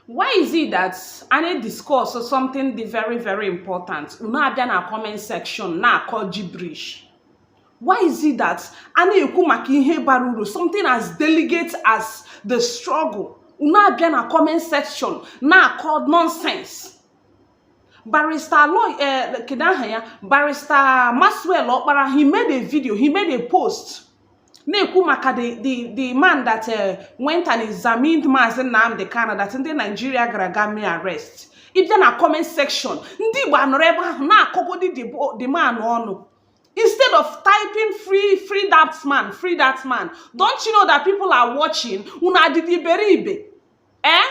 why is it that a na-discuss something dị very very important unu abịa na comment section na-akọ gibberish why is it that a na-ekwu maka ihe bara uru something as delicate as the struggle unu abịa na comment section na-akọ nonsense barista aloy eh, kedu aha ya barista maxwell ọkpara he made a video he made a post na-ekwu maka the the the man that uh, went and examined Maazị Nnamdi Kanu that ndị Naijiria gara gaa mee arrest ị bịa na comment section ndị Igbo anọrọ ebe ahụ na-akọgodi the man ọnụ instead of typing free free that man free that man don't you know that people are watching unu adịdị iberibe eh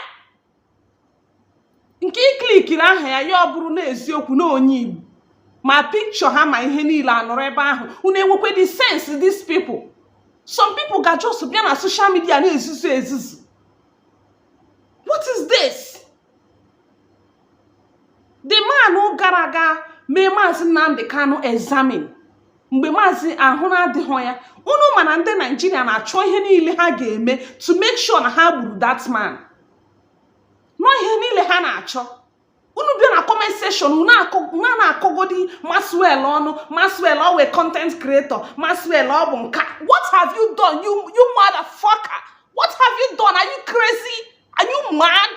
nke i klikiri aha ya ya ọ bụrụ n'eziokwu na onye igbo ma pikchọ ha ma ihe niile anọrọ ebe ahụ unu enwekwedị sense these people some people ga just bịa na social media na-ezuzu ezuzu what is this the man gara gaa mee maazị nnamdị kanụ examine mgbe maazị ahụ na-adịghị ya unu ma na ndị naijiria na-achọ ihe niile ha ga-eme to make sure na ha gburu that man na ọ ihe niile ha na-achọ unu bịa na comment section unu na-akọgodi maxwell ọnụ maxwell ọ wụ content creator maxwell ọ bụ nke a what have you done you you motherfucker what have you done are you crazy are you mad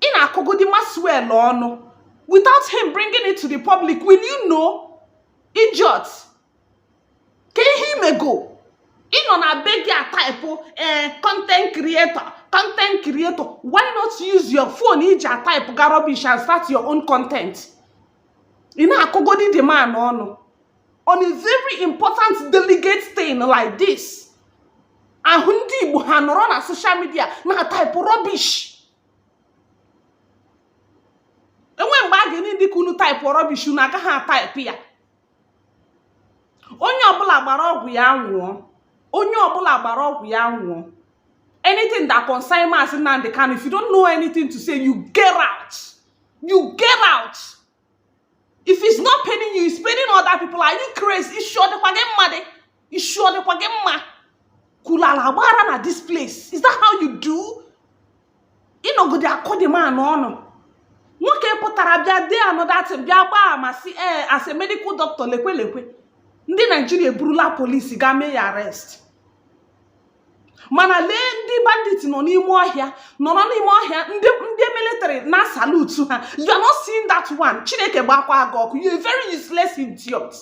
ị na-akọgodi Maxwell ọnụ without him bringing it to the public will you know idiot ka ihe i mego ị nọ na be gị a type ee eh, content creator content creator why not use your phone i ji a type ga rubbish and start your own content ị na-akọgodi the man ọnụ on a very important delicate thing like this a hụ ndị Igbo ha anọrọ na social media na-type rubbish e nwe mgbe ọ ga na-adị ka unu type rubbish unu agaghị ataịpụ ya onye ọbụla gbara ọgwụ ya ṅụọ onye ọbụla gbara ọgwụ ya ṅụọ anything that concern Mazi Nnamdi Kanu if you don't know anything to say you get out you get out if it's not paining you it's paining other people are you crazy isi ọ dịkwa gị mma dị isi ọ dịkwa gị mma kwulala gbara na this place is that how you do ị nọgodi akọ the man ọnụ nwoke pụtara bịa dee another thing bịa gbaa ama sị ee as a medical doctor lekwe lekwe ndị naijiria eburula polisi gaa mee ya arrest mana lee ndị bandit nọ n'ime ọhịa nọ n'ime ọhịa ndị ndị military na-asalutu ha you are not seeing that one chineke gbakwa gị ọkụ you are very useless idiot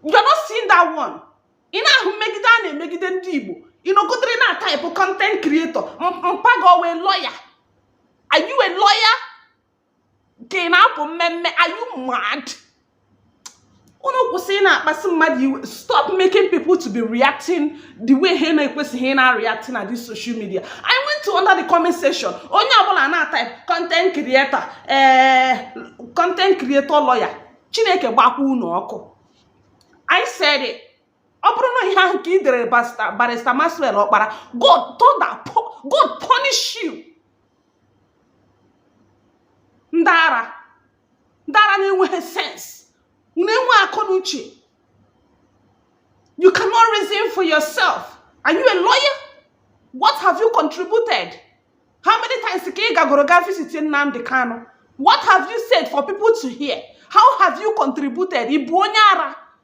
you are not seeing that one ị na-ahụ mmegide a na-emegide ndị igbo ị nọgidere na-atype content creator mpa gị ọ wụ lawyer are you a lawyer ka ị na-apụ mmemme are you mad unu kwụsị ịna-akpasị mmadụ iwe stop making people to be reacting the way ha na-ekwesịghị ịna-areact na this social media i went to under the comment section onye ọbụla na-atype content creator ee eh, content creator lawyer chineke gbakwa unu ọkụ i said it ọ bụrụ na ihe ahụ ka ị dere barrister Maxwell ọkpara god thunder god punish you ndị ara ndị ara na-enweghị sense unu enwe akọ na uche you cannot reason for yourself are you a lawyer what have you contributed how many times ka ị gagoro ga visit Nnamdi Kanu what have you said for people to hear how have you contributed ị bụ onye ara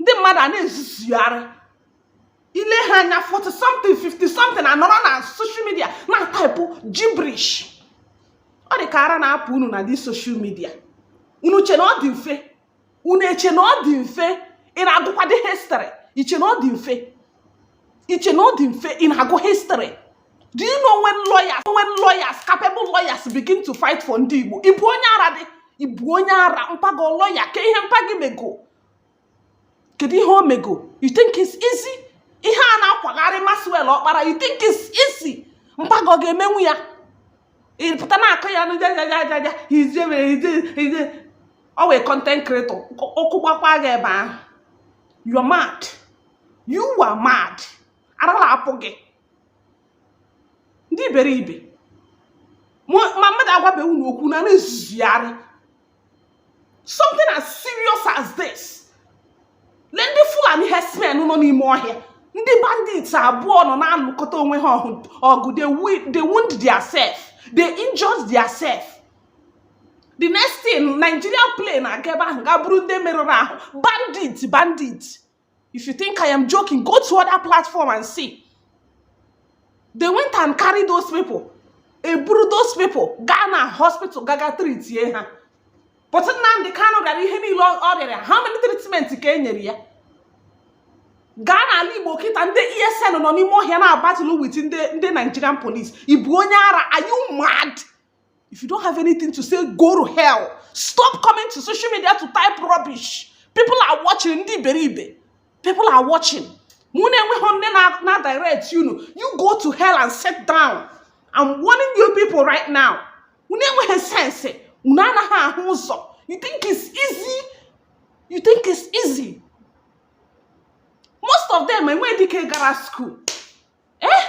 ndị mmadụ a na-ezuzugharị i lee ha anya 40 something 50 something anọrọ na social media na-ataịpụ gibberish ọ dị ka ara na-apụ unu na this social media unu che na ọ dị mfe unu eche na ọ dị mfe ị na-agụkwadị history i che na ọ dị mfe i che na ọ dị mfe ị na-agụ history do you know when lawyers when lawyers capable lawyers begin to fight for ndị Igbo ị bụ onye ara dị ị bụ onye ara mpa gị ọ lawyer kee ihe mpa gị mego kedu ihe o mego you think it's easy ihe a na-akwagharị Maxwell ọkpara you think it's easy mpa gị ọ ga-emenwu ya ị pụta na-akọ ya n'jajajajaja he's a mere he's he's always content creator ọkụ gbakwa gị ebe ahụ you're mad you are mad ara la-apụ gị ndị iberibe ma mmadụ agwabeghị unu okwu na na-ezuzugharị something as serious as this lee ndị fulani herdsmen nọ n'ime ọhịa ndị bandits abụọ nọ na-alụkọta onwe ha ọgụ they wound their self they injured their self the next thing Nigeria plane aga ebe ahụ ga buru ndị merụrụ ahụ bandit bandit If you think I am joking, go to other platform and see. They went and carried those people. e buru those people gaa na hospital gaga treatie ha but Nnamdi Kanu rịara ihe niile ọ rịara how many treatment ka e nyere ya gaa n'ala Igbo kịta ndị ESN nọ n'ime ọhịa na-abatụlụ with ndị Nigerian police ị bụ onye ara are you mad If you don't have anything to say, go to hell. Stop coming to social media to type rubbish. People are watching. Ndị iberibe. People are watching. Mụ na-enweghị nne na direct unu. You go to hell and sit down. I'm warning you people right now. Unu enweghị sense. Unu anaghị ahụ ụzọ. You think it's easy? You think it's easy? Most of them enweghị dike gara school. Eh?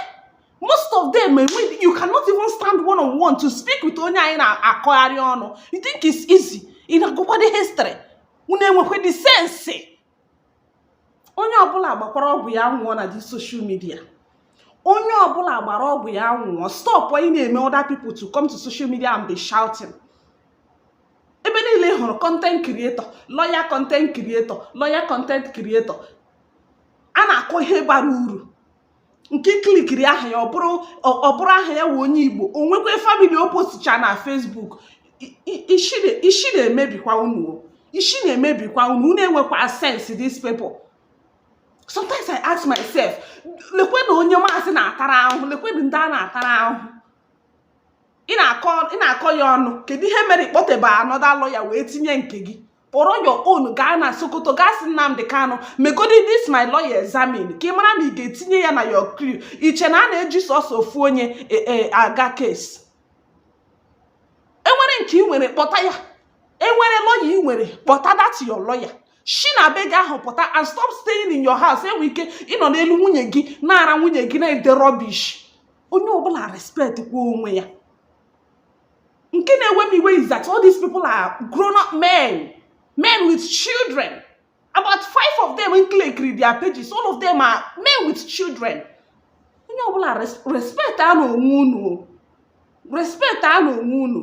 most of them enweghị you cannot even stand one on one to speak with onye anyị na-akọgharị ọnụ you think it's easy ị na-agụkwado history unu enwekwa the sense onye ọbụla gbakwara ọgwụ ya nwụọ na the social media onye ọbụla gbara ọgwụ ya nwụọ stop ị na-eme other people to come to social media and be shouting ebe niile ị hụrụ content creator lawyer content creator lawyer content creator a na-akọ ihe bara uru nke i klikiri aha ya ọ bụrụ aha ya wụ onye Igbo o nwekwa family o posticha na Facebook ishi na-emebikwa unu ishi na-emebikwa unu unu enwekwa sense these people sometimes i ask myself lekwe na onye maazị na-atara ahụhụ lekwe na ndị a na-atara ahụhụ ị na-akọ ya ọnụ kedu ihe mere ị kpọtebe another lawyer wee tinye nke gị kpọrọ your own gaa na Sokoto gaa sị Nnamdi Kanu megodi this my lawyer examine ka ị mara ma ị ga-etinye ya na your crew i che na a na-eji sọsọ ofu onye e, e, aga case e nwere nke i nwere kpọta ya e nwere lawyer i nwere kpọta that your lawyer shi na be gị ahụ pụta and stop staying in your house enwe ike ịnọ n'elu nwunye gị na-ara nwunye gị na-ede rubbish onye ọbụla respect kwa onwe ya nke na-ewe m iwe is that all these people are grown up men men with children about five of them m klikiri their pages all of them are men with children onye ọbụla respectanụ onwe unu respectanụ onwe unu